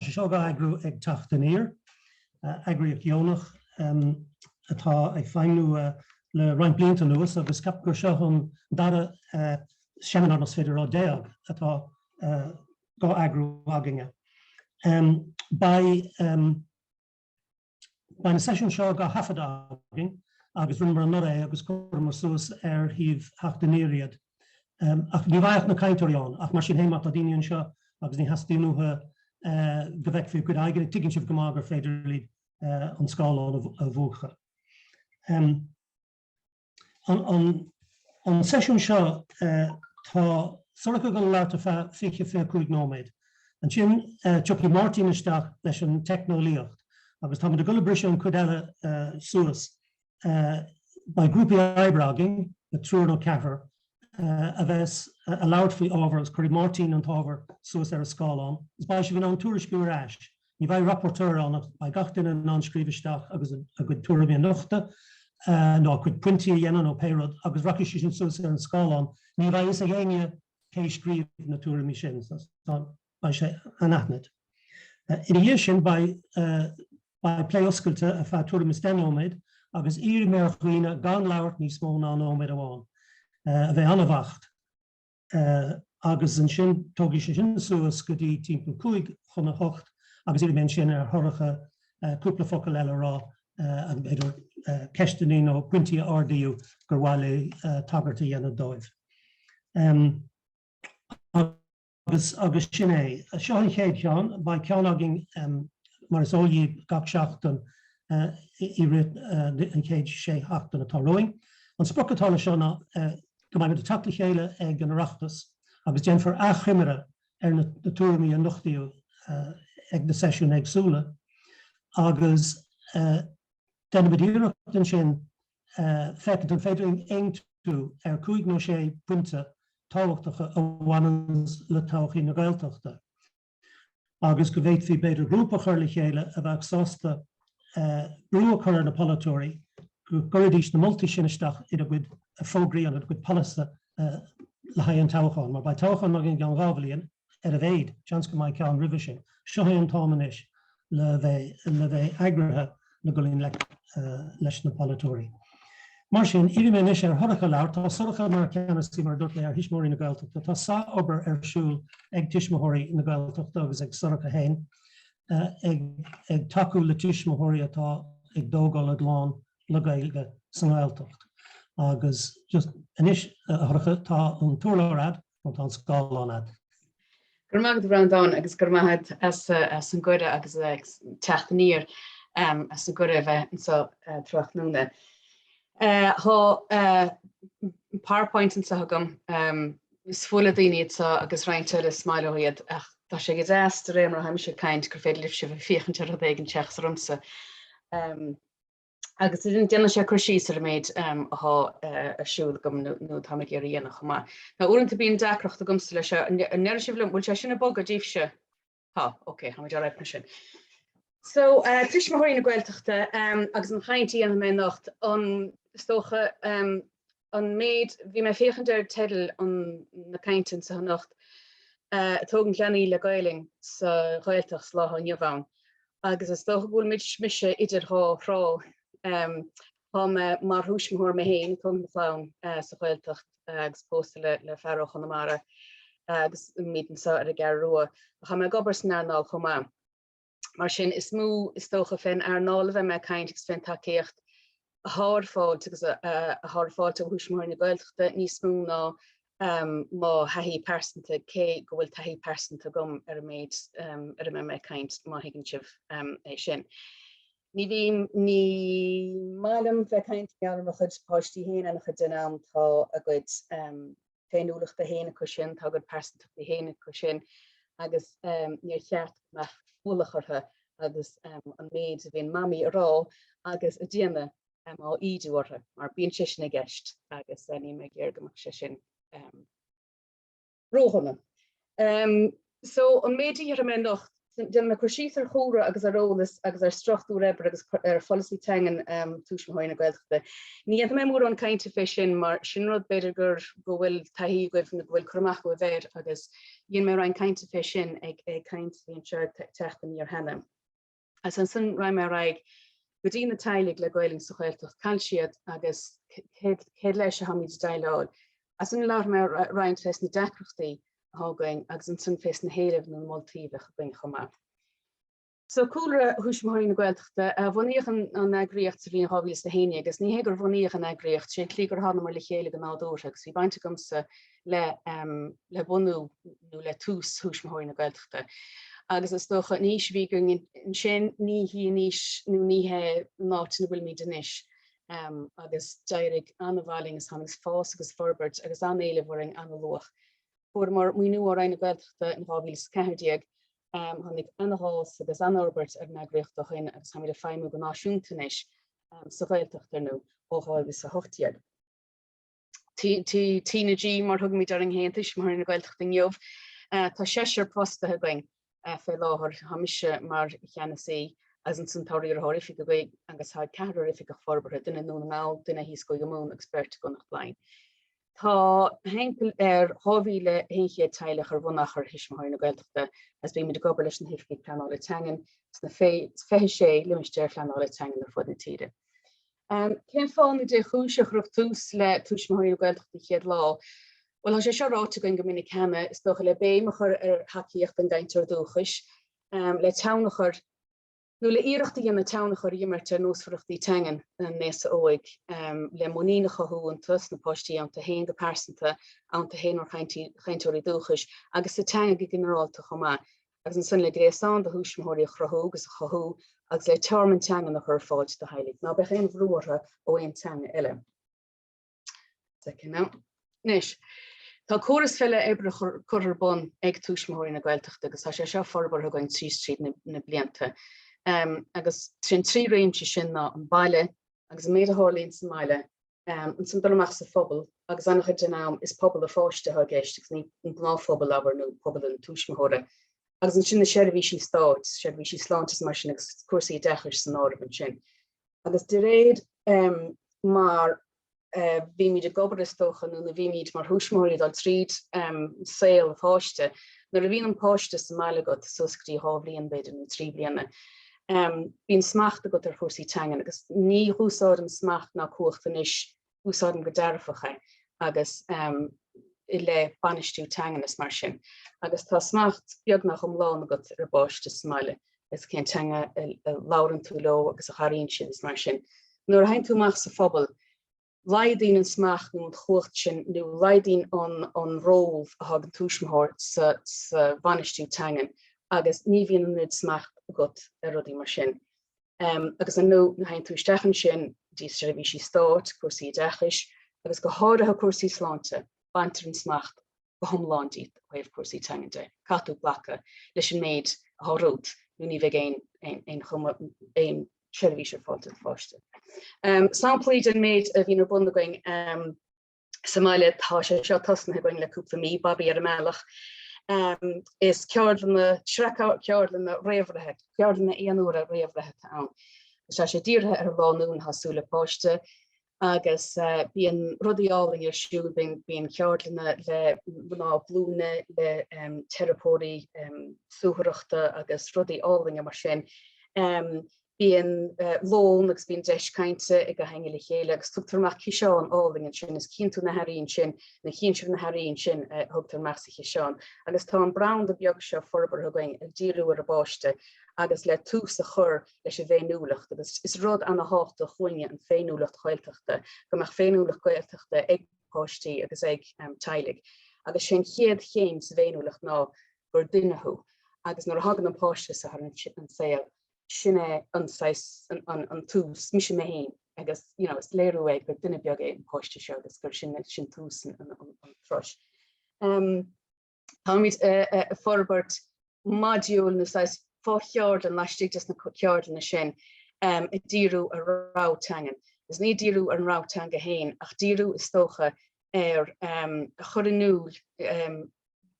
sé seo á eagrú ag Teacht Aniar, eagraíocht dheonach atá ag feidhmniú le roinnt blianta anuas agus ceapaim gur seo an dara seimineár, más féidir a rá, déag atá dhá eagrú againn. Beidh. Beidh na seisiúin seo dhá thaifead againn agus rinneamar anuraidh é agus chuireamar suas ar shuíomh Theacht Aniar iad. Ach ní bheidh ach na cainteoirí ann, ach mar sin féin má tá daoine anseo agus ní teastaíonn uathu go bhfeicfí a gcuid aghaidheanna, tuigeann sibh go maith gur féidir libh an scáileán a mhúchadh. An seisiún seo, tá Sorcha ag goil ag labhairt ar feadh 20, 25 nóiméad. Ansin, tiocfaidh Máirtín isteach leis an teicneolaíocht agus táimid ag dul ag briseadh an chuid eile suas. Beidh grúpaí oibre againn, triúr nó ceathrar, a bheas ag labhairt faoi ábhar agus cuirfidh Máirtín an t-ábhar suas ar an scáileán agus beidh sibh in ann tuairisciú ar ais. Ní bheidh rapporteur ann ach beidh gach duine in ann scríobh isteach agus a gcuid tuairimí a nochtadh, nó a gcuid pointí a dhéanamh nó pé rud, agus rachaidh sé sin suas ar an scáileán. Ní bheidh a fhios ag éinne cé a scríobh na tuairimí sin, beidh sé anaithnid. Ina dhiaidh sin beidh beidh plé oscailte ar feadh tuairim is deich nóiméad agus iarrfaidh mé ar dhaoine gan labhairt níos mó ná nóiméad amháin. A bheith an-bheacht. agus ansin tógfaidh sé sinn suas go dtí timpeall 5 chun 8 agus iarrfaidh mé ansin ar Shorcha cúpla focal eile a rá agus b'fhéidir ceisteanna nó pointí a ardaíodh gur mhaith léi tagairt a dhéanamh dóibh. Agus agus sin é. Seo an chéad cheann. Beidh ceann againn, mar is eol dhíbh, gach seachtain i rith an chéad sé seachtain atá romhainn. An sprioc atá leis seo ná go mbeidh muid ag teacht le chéile ag an Oireachtas agus déanfar achoimre ar na tuairimí a nochtaíodh ag na seisiúin éagsúla agus déanfaimid iarracht ansin féachaint an féidir linn aontú ar cúig nó sé pointe tábhachtacha a bhaineanns le todhchaí na Gaeltachta. agus go bhféadfaí, b'fhéidir, grúpa a chur le chéile a bheadh sásta brú a chur ar na polaiteoirí go gcuirfidís na moltaí sin isteach ina gcuid fógraí agus a gcuid polasaithe le haghaidh an toghcháin. Mar beidh toghchán againn i gceann dhá bhliain ar a mhéid, seans go mbeidh ceann roimhe sin. Seo é an t-am anois le bheith le bheith eagraithe le gabháil i ngleic leis na polaiteoirí. Mar sin, iarrfaidh mé anois ar Shorcha labhairt. Tá Sorcha mar cheannasaí, mar a dúirt mé, ar Thuismitheoirí na Gaeltachta. Tá sárobair ar siúl ag Tuismitheoirí na Gaeltachta agus ag Sorcha féin ag ag tacú le tuismitheoirí atá ag tógáil a gclann le Gaeilge sa nGaeltacht. Agus just anois, a Shorcha, tá an t-urlár agat nó tá an scáileán agat. Go raibh maith agat Breandán agus go raibh maith agat as as an gcuireadh agus ag teacht aniar as an gcuireadh a bheith anseo tráthnóna. Tá powerpoint anseo agam is fuath le daoine iad seo agus roinnt eile is maith leo iad ach tá sé go deas de réir mar a tháimse ag caint gur féidir libh sibh féachaint ar rud éigin seachas ormsa. agus déanann sé cur síos ar an méid atá ar siúl agam nó atá mé ag iarraidh a dhéanamh chomh maith. Ná uaireanta bíonn deacracht agamsa leis seo, an ndéarfaidh sibh liom 'bhfuil sé sin ag bogadh daoibhse? Tá, ok, táimid alright mar sin. So, Tuismitheoirí na Gaeltachta agus an chaint a dhéanfaidh mé anocht, an, is dócha, an méid, bhí mé féachaint ar teideal an na cainteanna so anocht ag tógaint leanaí le Gaelainn sa Ghaeltacht sa lá atá inniu ann agus is dócha go bhfuil muid mise idir dhá thrá, tá mé mar thuismitheoir mé féin, ag tógaint mo chlann sa Ghaeltacht agus pósta le fear ó Chonamara agus muid anso ar an gCeathrú Rua, ach tá mé ag obair san earnáil chomh maith. Mar sin, is mó, is dócha, fén earnáil a bheidh mé ag caint agus fén tacaíocht athá ar fáil agus athá ar fáil ó Thuismitheoirí na Gaeltachta níos mó ná mo thaithí pearsanta, cé go bhfuil taithí pearsanta agam ar an méid ar a mbeidh mé ag caint, má thuigeann sibh é sin. Ní bhím, ní maith liom bheith ag caint i ngeall ar mo chuid páistí féin an-chuid den am tá a gcuid. féiniúlachtaí féin acusan, tá a gcuid pearsantachtaí féin acusan agus níor cheart go mbeadh ualach orthu agus an méid a bhíonn Mamaí ag rá agus ag déanamh á ídiú orthu mar bíonn sé sin i gceist agus níl mé ag iarraidh go mbeadh sé sin ródhona. Ehm, so, an méid a dhéarfaidh mé anocht, déanfaidh mé cur síos ar chúlra agus ar eolas agus ar struchtúr oibre agus ar pholasaí teangan ehm, Tuismitheoirí na Gaeltachta. Ní dhéanfaidh mé mórán cainte fé sin mar sin rud b'fhéidir gur go bhfuil taithí agaibh nó go bhfuil cur amach agaibh air agus dhéan mé roinnt cainte fé sin ag, ag caint bhí ar siúl ag Teacht Aniar cheana. Agus ansin raghaidh mé ar aghaidh go dtí na teaghlaigh le Gaelainn sa Ghaeltacht, cá bhfuil siad agus céad leis a tháimid ag déileáil. Ansin labhróidh mé roinnt fés na deacrachtaí athá againn agus ansin fés na héilimh nó na moltaí a bheadh againn chomh maith. So cúlra Thuismitheoirí na Gaeltachta bunaíodh an eagraíocht sa bhliain 2011 agus ní hé gur bunaíodh an eagraíocht, sé an chaoi gur tháinomar le chéile go nádúrtha agus bhí baint agamsa le bunú nó le tús Thuismitheoirí na Gaeltachta agus is dócha an fhís a bhí againn ansin ní hí an fhís nó ní hé an áit ina bhfuilimid anois agus d'éirigh an-mhaith linn agus tháinig fás agus forbairt agus an-éileamh orainn an-luath. Fuaireamar maoiniú ó Roinn na Gaeltachta in 2014, tháinig an-fhás agus an-fhorbairt ar an eagraíocht ó shin agus táimid ag feidhmiú go náisiúnta anois sa Ghaeltacht ar ndóigh ó 2018. T na G, mar thugaimid orainn féin, Tuismitheoirí na Gaeltachta inniu, tá seisear fostaithe againn fé láthair, tá mise mar Cheannasaí is ansan tá riarthóir oifige againn agus tá ceathrar oifigeach forbartha, duine i nDún na nGall, duine thíos i gCúige Mumhan agus beirt i gConnacht Laighean. Tá timpeall ar 2,100 teaghlach ar bhunachar Thuismitheoirí na Gaeltachta agus bímid ag obair leis na hOifigigh Pleanála Teangan sna 26 Limistéar Phleanála Teangan ar fud na tíre. Cén fáth nó cén chúis ar cuireadh tús le Tuismitheoirí na Gaeltachta chéad lá? Bhuel, tá sé seo ráite againn go minic cheana, is dócha, le béim a chur ar thacaíocht an gcainteora dúchais, le tionchar, nó le iarracht a dhéanamh tionchar a imirt ar nósmhaireachtaí teangan an aosa óig, le muinín a chothú iontu sna páistí iontu féin go pearsanta, iontu féin mar chainteoirí dúchais, agus sa teanga go ginearálta chomh maith. agus ansin le gréasán de thuismitheoirí a chruthú agus a chothú agus le tearmann teangan a chur ar fáil do theaghlaigh. Ná beadh aon bhrú orthu ó aon teanga eile. Anois, tá córas feidhme oibre curtha ar bun ag Tuismitheoirí na Gaeltachta agus tá sé seo forbartha againn trí is tríd na blianta. Agus is iad na trí réimse sin ná an baile, agus an méid a tharlaíonn sa mbaile, ansin dul amach sa phobal agus an-chuid den am is pobal an pháiste atá i gceist agus ní an gnáthphobal abair nó pobal an tuismitheora agus ansin na seirbhísí stáit, seirbhísí sláinte is mar sin agus cúrsaí oideachais san áireamh ansin. Agus de réir um, mar uh, bhímid ag obair is dócha nó na bhímid mar thuismitheoirí dul tríd um, saol an pháiste, nuair a bhíonn an páiste sa mbaile agat suas go dtí dhá bhliain b'fhéidir nó trí bliana, Bíonn smacht agat ar chúrsaí teangan agus ní húsáidim smacht ná cumhacht anois, úsáidim go dearfach é agus i leith bainistiú teangan is mar sin. Agus tá smacht beagnach iomlán agat ar an bpáiste sa mbaile agus cén teanga a labhrann tú leo agus a n-airíonn siad is mar sin. Nuair a théann tú amach sa phobal Laghdaíonn an smacht nó an chumhacht sin nó laghdaíonn an ról atá ag an tuismitheoir sa bhainistiú teangan agus ní bhíonn an oiread smacht agat ar rudaí mar sin. Agus ar ndóigh, nuair a théann tú isteach ansin, go dtí seirbhísí stáit, cúrsaí oideachais agus go háirithe cúrsaí sláinte, baintear an smacht go hiomlán díot ó thaobh cúrsaí teangan de, caithfidh tú glacadh leis an méid atá romhat nó ní bheidh aon seirbhís ar fáil do do pháiste. Samplaí den méid a bhíonn ar bun againn sa mbaile, tá sé seo tosnaithe againn le cúpla mí, Babaí ar an mbealach, is ceardlanna, sraith ceardlanna réamhbhreithe, ceardlanna aon uaire réamhbhreithe atá ann. Tá sé dírithe ar lánúin atá ag súil le páiste agus bíonn rudaí álainn ar siúl, bíonn ceardlanna le mná glúine, le teiripeoirí suathaireachta agus rudaí álainne mar sin. Bíonn lón agus bíonn deis cainte ag gach éinne le chéile agus tugtar amach ciseán álainn ansin, is chíonn tú na hearraí ansin, nó chíonn sibh na hearraí ansin a thugtar amach sa chiseán. Agus tá an branda beag seo forbartha againn ag díriú ar an bpáiste agus le tús a chur leis an bhféiniúlacht agus is rud an-tábhachtach dúinne an féiniúlacht Ghaeltachta, go mbeadh féiniúlacht Gaeltachta ag páistí agus ag teaghlaigh agus sé an chéad chéim sa bhféiniúlacht ná gur duine thú agus nuair a thagann an páiste ar an saol sin é an saghas an tús, mise mé féin agus you know is léiriú é gur duine beag é an páiste seo agus gur sin sin tús an turais. Táimid ag forbairt modúil nó saghas fo-cheardlann laistigh de na ceardlanna sin um ag díriú ar rogha teangan. Is ní ag díriú ar an rogha teanga féin ach ag díriú is dócha ar um, a chur in iúl um,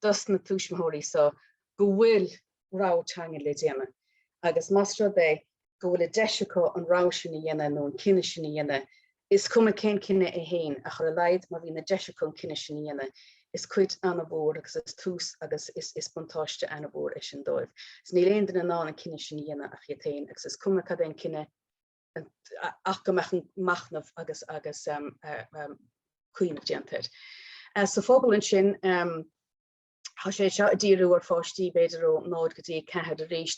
dos na tuismitheoirí so go bhfuil rogha teanga le déanamh agus más rud é go bhfuil an deis acu an rogha sin a dhéanamh nó an cinneadh sin a dhéanamh, is cuma cén cinneadh é féin ach ar a laghad má bhíonn an deis acu an cinneadh sin a dhéanamh, is cuid an-mhór agus is tús agus is buntáiste an-mhór é sin dóibh. Agus níl aon duine in ann an cinneadh sin a dhéanamh ach iad féin agus is cuma cad é an cinneadh ach go mbeadh an machnamh agus agus cuimhneamh déanta air. Sa phobal ansin, Tá sé seo ag díriú ar pháistí b'fhéidir ó 0 go dtí 4 arís.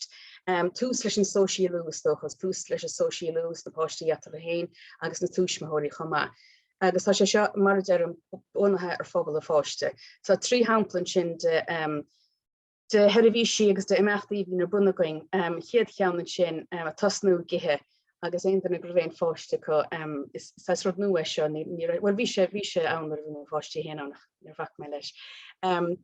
Tús leis an sóisialú, is dócha, is tús leis an sóisialú dos na páistí eatarthu féin agus dos na tuismitheoirí chomh maith. Agus tá sé seo, mar a deirim, bunaithe ar phobal an pháiste. Tá trí shampla ansin de sheirbhísí agus d'imeachtaí a bhíonn ar bun againn. An chéad cheann ansin, tosnú ag ithe, agus aon duine go raibh aon pháiste acu, is saghas rud nua é seo, ní raibh, bhuel bhí sé, bhí sé ann nuair a bhí mo pháistí féin ann ach níor bhac mé leis.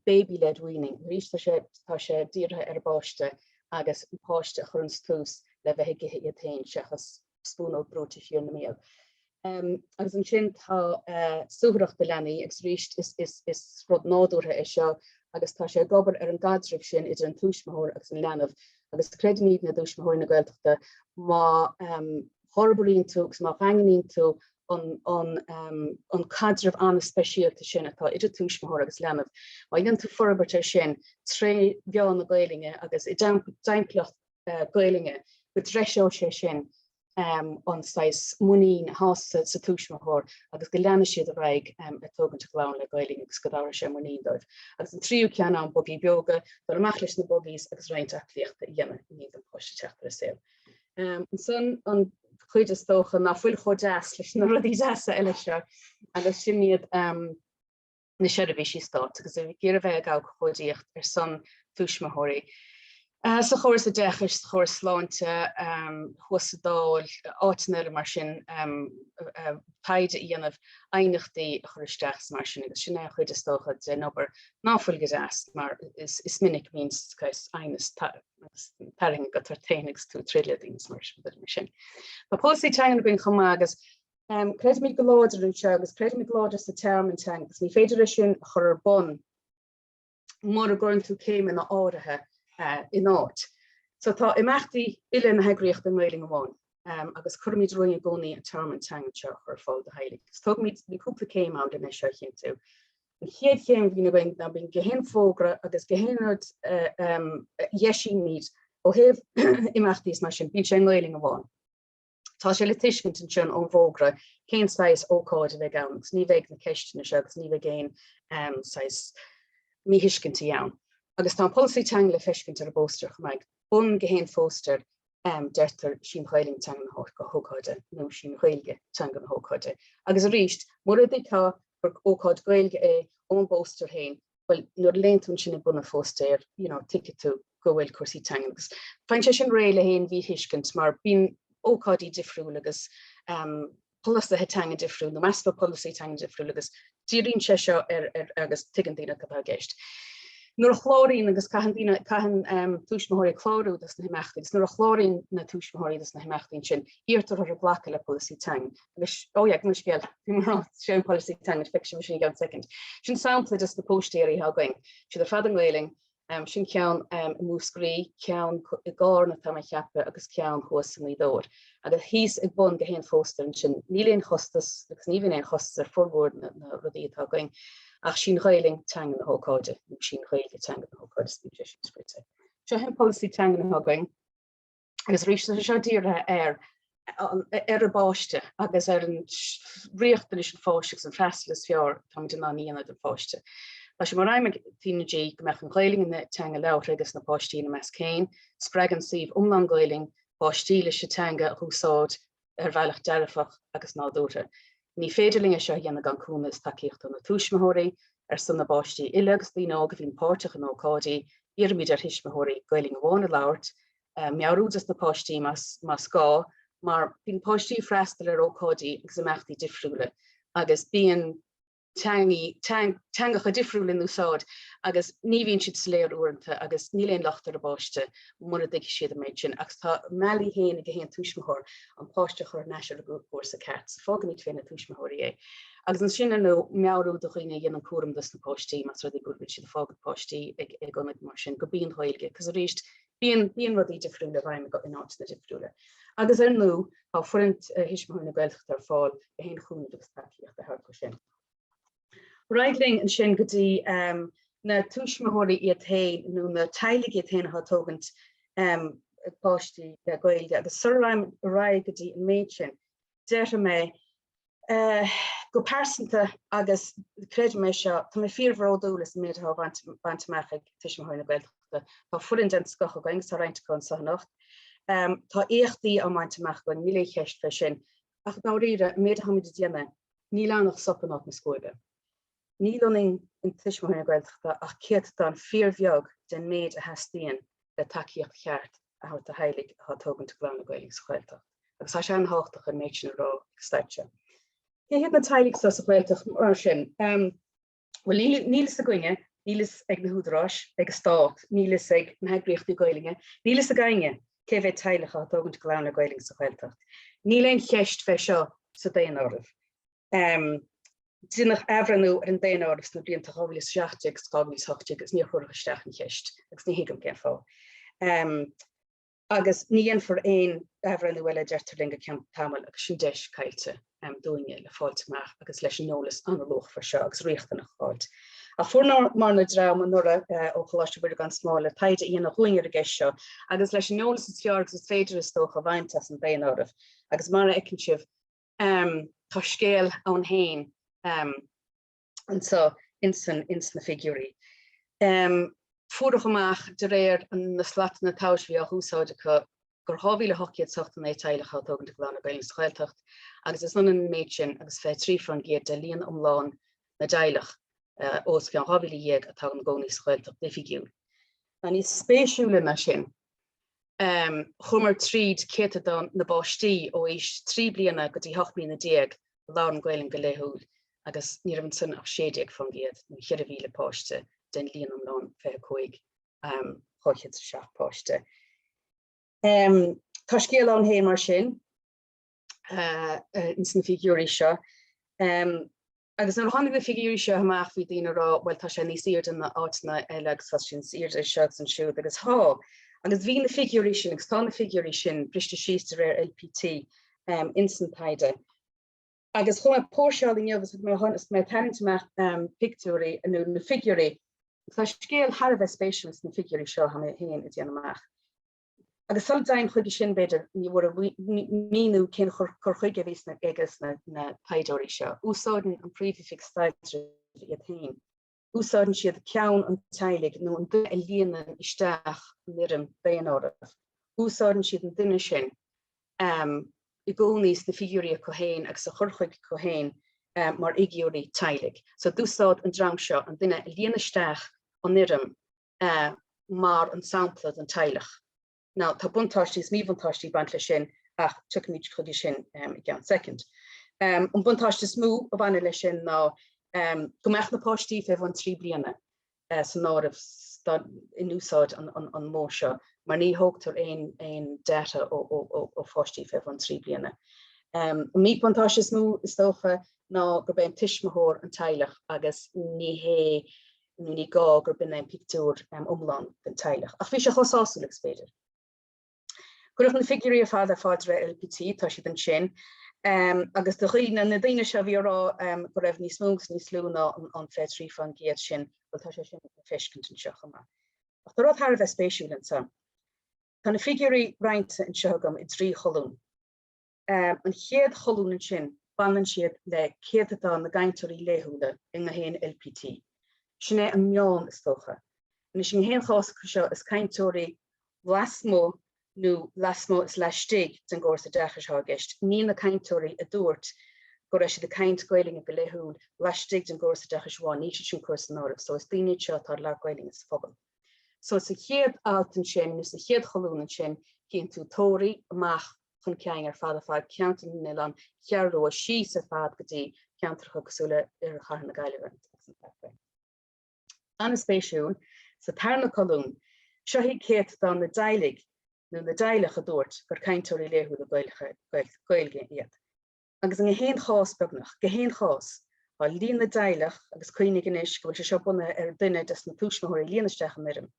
Baby led weaning, arís tá sé, tá sé dírithe ar an bpáiste agus an páiste a chuireanns tús le bheith ag ithe iad féin seachas spúnóg brúite siar ina mbéal. Agus ansin tá suathaireacht do leanaí, agus arís is rud nádúrtha é seo agus tá sé ag obair ar an gcaidreamh sin idir an tuismitheoir agus an leanbh agus creidimid i dTuismitheoirí na Gaeltachta má fhorbraíonn tú agus má dhaingníonn tú an caidreamh an-speisialta sin atá idir tuismitheoir agus leanbh, má dhéanann tú forbairt air sin tré mheán na Gaelainne agus i dtimpeallacht Gaelainne go dtreiseoidh sé sin an saghas muinín a fhás sa tuismitheoir agus go leanfaidh siad ar aghaidh ag tógaint a gclann le Gaelainn agus go dtabharfaidh sé muinín dóibh. Agus an tríú ceann ann, Bugaí Beoga, dul amach leis na buggies agus roinnt aclaíochta a dhéanamh i ndiaidh don pháiste teacht ar an saol. Ansan an chuid is dócha ná fuil chomh deas leis na rudaí deasa eile seo agus sin iad. na seirbhísí Stáit agus ag iarraidh a bheith ag abhcóidíocht ar son tuismitheoirí. Sa chóras oideachais, sa chóras sláinte, thuas sa Dáil, áiteanna eile mar sin, taighde a dhéanamh, aighneachtaí a chur isteach is mar sin agus sin é an chuid is dócha den obair ná fuil go deas mar is minic bíonn aighneas tarraingthe agat ort féin agus tú ag troid le daoine is mar sin. But tá polasaí teangan againn chomh maith agus Creidimid go láidir anseo agus creidimid go láidir sa tearmann teanga. Ní féidir é sin a chur ar bun mura gcuireann tú céimeanna áirithe in áit. So tá imeachtaí uile na heagraíochta i nGaelainn amháin agus cuirimid romhainn i gcónaí an tearmann teanga seo a chur ar fáil do theaghlaigh. Agus tógaimid cúpla céim ann len é seo a chinntiú. An chéad chéim a bhíonn againn ná bíonn gach aon fhógra agus gach aon rud a dheisímid ó thaobh imeachtaí is mar sin. Bíonn sé i nGaelainn amháin. Tá sé le tuiscint ansin ón bhfógra cén saghas ócáid a bheidh ann agus ní bheidh na ceisteanna seo agus ní bheidh aon saghas míthuiscintí ann. Agus tá an polasaí teanga le feiscint ar an bpóstaer chomh maith. Bun gach aon phóstaer deirtear 'Sí an Ghaelainn teanga na hócáide nó 'Sí an Ghaeilge teanga na hócáide. Agus arís, mura dtuigtear gur ócáid Gaeilge é ón bpóstaer féin, bhuel, nuair a léann tú ansin ag bun an phóstaeir, you know, tuigfidh tú go bhfuil cúrsaí teangan agus faigheann sé sin réidh le haon mhíthuiscint mar bíonn ócáidí difriúil agus polasaithe teanga difriúil nó easpa polasaí teanga difriúil agus díríonn sé seo air agus tuigeann daoine cad atá i gceist. Nuair a chláraíonn agus caitheann daoine, caitheann tuismitheoirí clárú do sna himeachtaí agus nuair a chláraíonn na tuismitheoirí do sna himeachtaí ansin, iarrtar orthu glacadh le polasaí teanga. Anois, ó yeah, gabh mo leithscéal, bhí mé ag rá, 'sé an polasaí teanga feicfidh sibh é sin i gceann second. Sin sampla de sna póstaeirí atá againn, siad ar fad i nGaelainn, sin ceann i Múscraí, ceann i gCarna tá mé ag ceapadh agus ceann thuas i nGaoth Dobhair. Agus thíos ag bun gach aon phóstaer ansin, níl aon chostas agus ní bhíonn aon chostas ar fhormhór na rudaí atá againn ach 'sí an Ghaelainn teanga na hócáide, nó 'sí an Ghaeilge teanga na hócáide, is minic é sin scríte. Seo hé an polasaí teangan atá againn. agus arís tá sé seo dírithe ar ar an bpáiste agus ar an riachtanais an pháiste agus an freastal is fearr atáimid in ann a dhéanamh don pháiste. Tá sé mar aidhm ag TnaG go mbeadh an Ghaelainn ina teanga labhartha ages na páistí ina measc féin. Spreagann suíomh iomlán Gaelainn páistí leis an teanga a húsáid ar bhealach dearfach agus nádúrtha. Ní féidir linne seo a dhéanamh gan cúnamh is tacaíocht ó na tuismitheoirí. Ar son na bpáistí uile agus daoine óga a bhíonn páirteach in ócáidí, iarraimid ar thuismitheoirí Gaeilge amháin a labhairt, meabhrú dos na páistí más gá, mar bíonn páistí ag freastal ar ócáidí agus imeachtaí difriúla agus bíonn. teangaí, teangacha difriúla in úsáid agus ní bhíonn siad soiléir uaireanta agus níl aon locht ar an bpáiste mura dtuigfidh siad an méid sin agus tá a mbealaí féin ag chaon tuismitheoir an páiste a chur thar n-ais ar an gcúrsa ceart so fágaimid fé na tuismitheoirí é. Agus ansin ar ndóigh meabhrú do dhaoine a dhéanann cúram dos na páistí más rud é go bhfuil siad ag fágaint páistí ag ionaid mar sin go mbíonn Gaeilge acu is arís Bíonn rudaí difriúla i bhfeidhm in áiteanna difriúla agus, ar ndóigh, tá foireann Thuismitheoirí na Gaeltachta ar fáil le haon chúnamh agus tacaíocht a thabhairt leis sin. Ar aghaidh linn ansin go dtí na tuismitheoirí iad féin nó na teaghlaigh iad féin atá ag tógaint páistí le Gaeilge agus sula raghaidh go dtí an méid sin, déarfaidh mé Eh, go pearsanta, agus creidim é seo, tá mé fíorbhródúil as an méid atá á bhaint amach ag Tuismitheoirí na Gaeltachta. Tá foireann den scoth againn agus tá roinnt acu anseo anocht. Ehm, tá éachtaí á mbaint amach againn, níl aon cheist fé sin. Ach dáiríre, an méid atá muid ag déanamh, níl ann ach sop in áit na scuaibe. Níl ionainn in Tuismitheoirí na Gaeltachta ach céatadán fíorbheag den méid a theastaíonn le tacaíocht cheart a thabhairt do theaghlaigh atá ag tógaint a gclann le Gaeilge sa Ghaeltacht agus tá sé an-thábhachtach an méid sin a rá ag an staid seo. Cé hiad na teaghlaigh atá sa Ghaeltacht mar sin? Bhuel níl fhios againne, níl fhios ag na húdaráis, ag an stát, níl fhios ag na heagraíochtaí Gaeilge, níl fhios ag éinne cé mhéad teaghlach atá ag tógaint a gclann le Gaeilge sa Ghaeltacht. Níl aon cheist fé seo sa daonáireamh. Déanadh athbhreithniú ar an daonáireamh sna blianta 2017 agus 2018 agus níor cuireadh isteach an cheist agus ní thuigim cén fáth. Agus ní dhéanfar aon athbhreithniú eile a deirtear linn go ceann tamaill agus sin deis caillte dúinne le fáilt amach agus leis an eolas an-luachmhar seo agus riachtanach a fháilt. Ach fuaireamarna dream anuraidh ó Choláiste Mhuire gan Smál le taighde a dhéanamh dhúinn ar an gceist seo agus leis an eolas is fearr agus is féidir is dócha a bhaint as an daonáireamh agus mar a fheiceann sibh Tá scéal ann féin anseo ins an, ins na figiúirí. Fuaireadh amach de réir na slatanna tomhais a bhí á húsáid acu gur 2,889 teaghlach atá ag tógaint a gclann le Gaeilge sa Ghaeltacht agus is ionann an méid sin agus 23% de líon iomlán na dteaghlach os cionn 12,000 atá ina gcónaí sa Ghaeltacht oifigiúil. Ach níos spéisiúla ná sin. Chuamar tríd céatadán na bpáistí ó aois trí bliana go dtí hocht mbliana déag a labhrann Gaelainn go laethúil agus ní raibh ansan ach 16%, nó 4,000 páiste, den líon iomlán 25,207 páiste. Tá scéal ann fhéin mar sin ins na figiúirí seo. Agus nuair a tháinig na figiúirí seo amach bhí daoine ag rá bhuel tá sé níos airde na áiteanna eile agus tá sé níos airde anseo agus ansiúd agus thá agus bhí na figiúirí sin agus tá na figiúirí sin briste síos de réir LPT ins an taighde. Agus chuaigh mé ag póirseáil inniu agus mé agus mé ag tarraingt amach pictiúirí nó na figiúirí tá scéal thar a bheith spéisiúil sna figiúirí seo atá mé féin ag déanamh amach. agus sula dtéim chuige sin, b'fhéidir, ní mór a mhíniú cén cur chuige a bhí sna ag na taighdeoirí seo. Úsáideann an Príomhoifig Staidrimh iad féin. Úsáideann siad ceann an teaghlaigh nó an duine a líonann isteach an fhoirm daonáirimh. Úsáideann siad an duine sin i gcónaí sna figiúirí acu féin agus a chur chuige acu féin mar fhigiúirí teaghlaigh. So d'úsáid an dream seo an duine a líonann isteach an fhoirm mar an sampla don teaghlach. Now, tá buntáistí is míbhuntáistí ag baint leis sin ach tiocfaimid chuige sin i gceann soicind. An buntáiste is mó a bhaineann leis sin ná go mbeadh na páistí fé bhun trí bliana san áireamh in úsáid an modh seo mar ní thógtar aon data ó pháistí fé bhun trí bliana. An míbhuntáiste is mó, is dócha, ná gurb é an tuismitheoir an teaghlach agus ní hé nó ní gá gurb in é an pictiúr iomlán den teaghlach, ach bhí sé chomh sásúil agus ab fhéidir. Cuireadh na figiúirí ar fad ar fáil de réir LPT, tá siad ansin, agus do dhaoine, na daoine seo a bhí ag rá go raibh níos mó agus níos lú ná an 23% sin, bhuel tá sé sin le feiscint anseo chomh maith. Ach tá rud thar a bheith spéisiúil ansan. Tá na figiúirí roinnte anseo agam i dtrí cholún. an chéad cholún ansin, baineann siad le céatadán na gcainteoirí laethúla i ngach aon LPT. Sin é an meán, is dócha. Anois, i ngach aon chás acu seo, is cainteoirí lasmuigh nó lasmuigh is laistigh den gcóras oideachais atá i gceist, ní na cainteoirí a dúirt go raibh siad ag caint Gaeilge go laethúil laistigh den gcóras oideachais amháin, níl siad sin curtha san áireamh. So, is daoine iad seo atá ag labhairt Gaeilge sa phobal. So, sa chéad alt ansin nó sa chéad cholún ansin, cíonn tú Toraigh amach chun cinn ar fad ar fad, Ceantar na nOileán, an Cheathrú Rua síos ar fad go dtí ceantracha cosúil le Oirthear Chathair na Gaillimhe. An-spéisiúil, sa tarna colún, seo iad céatadán na dteaghlaigh nó na dteaghlach a dúirt gur cainteoirí laethúla Gaeilge iad. agus in aon chás, beagnach gach aon chás, tá líon na dteaghlach, agus cuimhnigh anois go bhfuil sé seo bunaithe ar duine des na tuismitheoirí a líon isteach an fhoirm,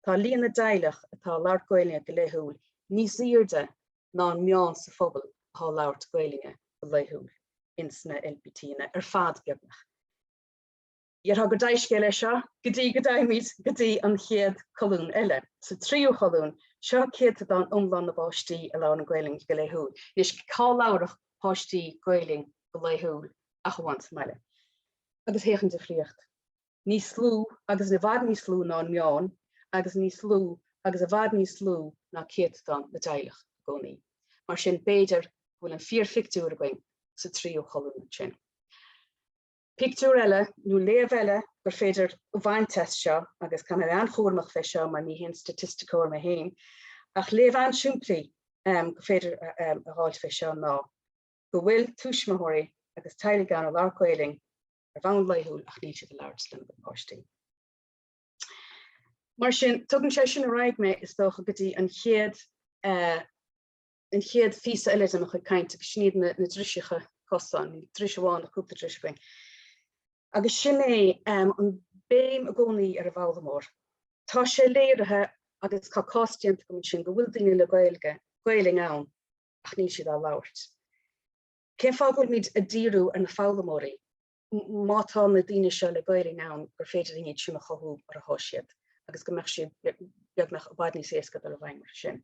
tá líon na dteaghlach atá a labhairt Gaelainne go laethúil níos aoirde ná an meán sa phobal athá a labhairt Gaelainne go laethúil ins na LPTanna ar fad, beagnach. Déarfá go deas é seo go dtí go dtéimid go dtí an chéad cholún eile. Sa tríú cholún, seo céatadán iomlán na bpáistí a labhrann Gaelainn go laethúil. Anois, cá labharfadh páistí Gaelainn go laethúil ach amháin sa mbaile? Agus féach an difríocht. Níos lú agus i bhfad níos lú ná an meán agus níos lú agus i bhfad níos lú ná céatadán na dteaghlach i gcónaí. Mar sin, b'fhéidir go bhfuil an fíorphictiúr againn sa tríú cholún ansin. Pictiúr eile nó léamh eile gur féidir a bhaint as seo, agus caithfidh mé a bheith an-chúramach fé seo mar ní haon staitisticeoir mé féin, ach léamh an-simplí gur féidir a dh'fháilt fé seo ná go bhfuil tuismitheoirí agus teaghlaigh ann a labhairt Gaelainn ar bhonn laethúil ach níl siad á labhairt lena gcuid páistí. Mar sin, tugann sé sin ar aghaidh mé, is dócha, go dtí an chéad an chéad phíosa eile de mo chuid cainte agus sin iad na driseacha cosáin, ní dris amháin ach cúpla dris againn, agus sin é an béim i gcónaí ar an bhfoghlaimeoir. Tá sé léirithe agus tá cás déanta agam ansin go bhfuil daoine le Gaelainn ann ach níl siad á labhairt. Cén fáth go bhfuilmid ag díriú ar na foghlaimeoirí? Má tá na daoine seo le Gaelainn ann gur féidir iad sin a chothú ar a thá siad agus go mbeadh siad beagnach i bhfad níos éasca dul i bhfeidhm orthu sin.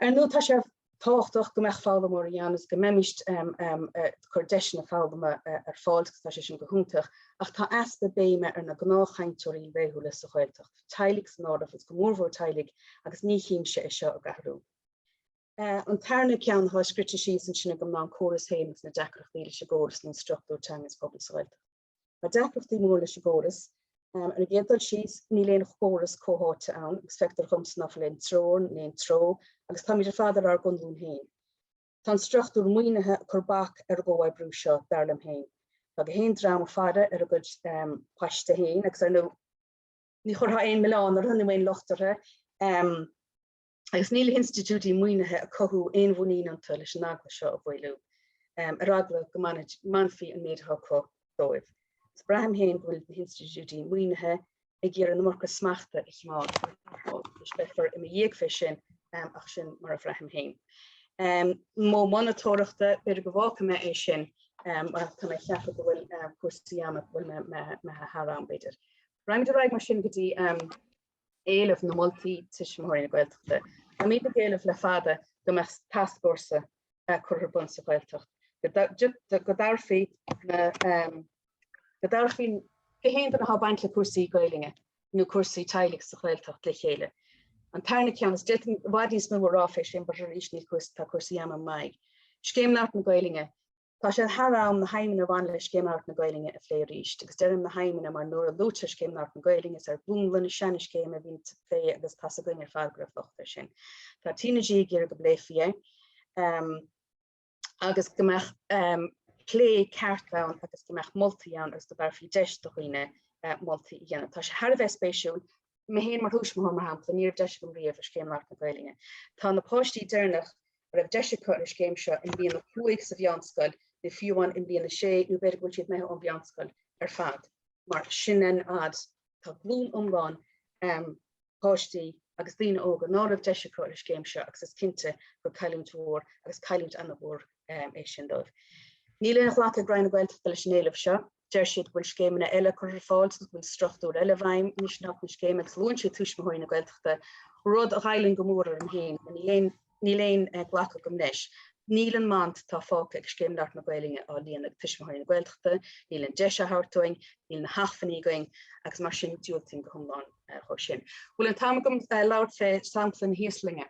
Ar ndóigh, tá sé tábhachtach go mbeadh foghlaimeoirí ann agus go mbeimist ag cur deiseanna foghlama ar fáil agus tá sé sin go hiontach ach tá easpa béime ar na gnáthchainteoirí laethúla sa Ghaeltacht, teaghlaigh san áireamh agus go mórmhór teaghlaigh agus ní tchím-se é seo ag athrú. An tarna ceann atá scrite síos ansin agam ná an córas féinig, na deacrachtaí leis an gcóras nó an struchtúr teanga sa phobal sa Ghaeltacht. Tá deacrachtaí mór leis an gcóras. Ar an gcéad dul síos, níl aon chóras comhtháite ann agus feictear dhomsa ná fuil aon treoir ná aon treo agus táimid ar fad ar ár gconlán féin. Tá an struchtúr maoinithe ag cur bac ar an gcomhoibriú seo, dar liom féin. Tá gach aon dream a faire ar a gcuid paiste féin agus, ar ndóigh, ní chuirfeá aon milleán orthu nó aon locht orthu. agus níl institiúidí maoinithe a cothú aon mhuinín iontu leis an eagla seo a mhaolú, ar eagla go mbainfí an méid atá acu dóibh. Is braithim féin go bhfuil na hinstitiúidí maoinithe ag iarraidh an iomarca smachta a chimeád, is beifear i mo dhiaidh fé sin, ach sin mar a bhraithim féin. Modh monatóireachta, b'fhéidir go bhfágfaidh mé é sin, ach tá mé ag ceapadh go bhfuil cúrsaí ama, an bhfuil mé thar am, b'fhéidir. Raghaimid ar aghaidh mar sin go dtí. éileamh nó moltaí Tuismitheoirí na Gaeltachta. Táimid ag éileamh le fada go mbeadh tascfhórsa curtha ar bun sa Ghaeltacht, go, go dtabharfaí gach aon duine atá ag baint le cúrsaí Gaelainne nó cúrsaí teaghlaigh sa Ghaeltacht le chéile. An tarna ceann, is d'fhéadfainn i bhfad níos mó a rá fé sin, but arís níl cúrsaí, tá cúrsaí ama im aghaidh, Scéim Labhairt na Gaelainne, Tá sé thar am na haidhmeanna a bhaineann le Scéim Labhairt na Gaelainne a phlé arís agus deirim na haidhmeanna mar nuair a luaitear Scéim Labhairt na Gaelainne is ar mhúnla na seana scéime a bhíonn plé agus tá a fhios againn ar fad go raibh locht air sin. Tá TnaG ag iarraidh go bpléifí é agus go mbeadh plé ceart ann agus go mbeadh moltaí ann agus go dtabharfaí deis do dhaoine moltaí a dhéanamh. Tá sé thar a bheith spéisiúil mé féin mar thuismitheoir mar shampla, ní raibh deis agam riamh ar scéim Labhairt na Gaeilge. Tá na páistí deireanach a raibh deis acu ar an scéim seo i mbliain a cúig sa mheánscoil nó fiú amháin i mbliain a sé nó b'fhéidir go bhfuil siad imithe ón mheánscoil ar fad. Mar sin an fhad tá glúin iomlán um páistí agus daoine óga ná raibh deis acu ar an scéim seo agus is cinnte gur cailliúint mhór agus cailliúint ana-mhór um, é sin dóibh. Níl aon ghlacadh ag Roinn na Gaeltachta leis an éileamh seo. Deir siad go bhfuil scéimeanna eile curtha ar fáil agus go bhfuil struchtúr eile i bhfeidhm anois in áit na scéime agus luann siad Tuismitheoirí na Gaeltachta, rud a ghoilleann go mór orm féin mar níl aon ghlacadh agam leis. Níl an mant atá fágtha ag Scéim Labhairt na Gaelainne á líonadh ag Tuismitheoirí na Gaeltachta, níl an deis á thabhairt dúinn, níl na hacmhainní againn agus mar sin diúltaím go hiomlán dó sin. Bhfuil an t-am agam labhairt fé shampla na hÍoslainne.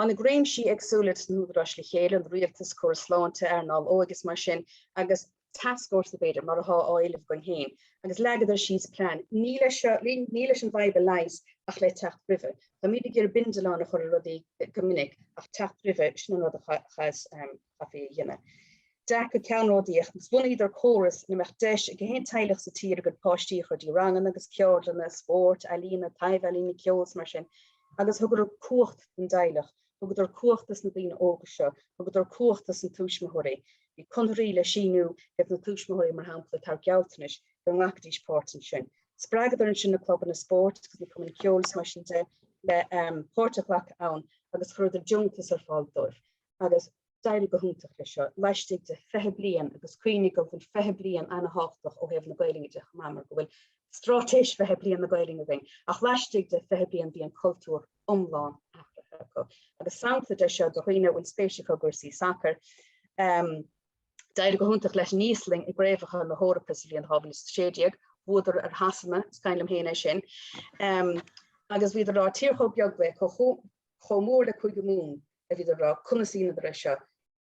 Tháinig réimsí éagsúla de na húdaráis le chéile, an rialtas, córas sláinte, earnáil óige is mar sin, agus tascfhórsa, b'fhéidir, mar atá á éileamh againn féin, agus leagadar síos plean. Ní le, ní leis an bhfadhb a leigheas ach le teacht roimhe. Táimid ag iarraidh bindealán a chur ar rudaí go minic ach teacht roimhe, sin an rud a chaitheas. chaithfí a dhéanamh. dearcadh ceannródaíoch agus bhunaíodar córas ina mbeadh deis ag gach aon teaghlach sa tír a gcuid páistí a chur dtí ranganna agus ceardlanna spóirt, ealaíona, taibhealaíona, ceoil is mar sin agus thugadar cumhacht don dteaghlach, thugadar cumhacht dos na daoine óga seo, thugadar cumhacht dos na tuismitheoirí. Bhí conarthaí le síniú ag na tuismitheoirí mar shampla tabhairt gealltanais go nglacfaidís páirt ansin. Spreagadar ansin na clubanna spóirt agus na cumainn ceoil is mar sin de le páirt a ghlacadh ann agus chuireadar deontas ar fáil dóibh. agus d'éirigh go hiontach leis seo laistigh de 20 bliain agus cuimhnigh go bhfuil 20 bliain ana-thábhachtach ó thaobh na Gaelainne de chomh maith mar go bhfuil Straitéis 20 Bliain na Gaelainne againn ach laistigh de 20 bliain bhí an cultúr iomlán athraithe acu agus sampla de seo do dhaoine a bhfuil spéis acu i gcúrsaí sacair um, D'éirigh go hiontach leis an Íoslainn i gcraobhacha na hEorpa sa bhliain 2016, bhuadar ar Shasana, is cuimhin liom féin é sin, um, agus bhíodar ag rá tír chomh beag le chomh mór le Cúige Mumhan a bhíodar ag rá conas a dheineadar é seo,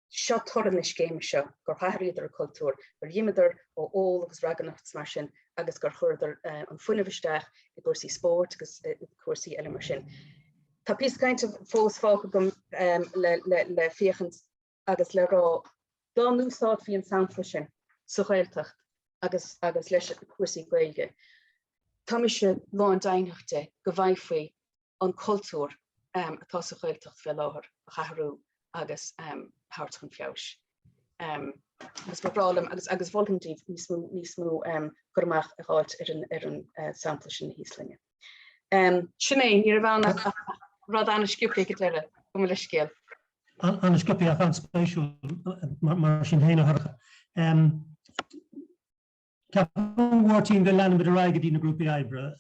seo toradh na scéime seo, gur athraíodar an cultúr, gur imíodar ó ól agus ragairneacht is mar sin agus gur chuireadar an fuinneamh isteach i gcúrsaí spóirt agus cúrsaí eile mar sin. Tá píosa cainte fós fágtha agam le féachaint agus le rá dá n-úsáidfí an sampla sin sa Ghaeltacht agus agus leis cúrsaí Gaeilge. Tá mise lándeimhnitheach de go bhfaighfí an cultúr atá sa Ghaeltacht fé láthair a athrú agus a thabhairt chun feabhais. Agus ba bhreá liom, agus mholfainn daoibh níos mó, níos mó cur amach a dh'fháilt ar an sampla sin na hÍoslainne. Sin é, ní raibh ann ach rud an-sciobtha, go deireadh, go maith, le scéal. An-sciobtha ach an-spéisiúil mar sin féin a thoradh. Ceapaim, a Mháirtín, go leanfaimid ar aghaidh go dtí na grúpaí oibre.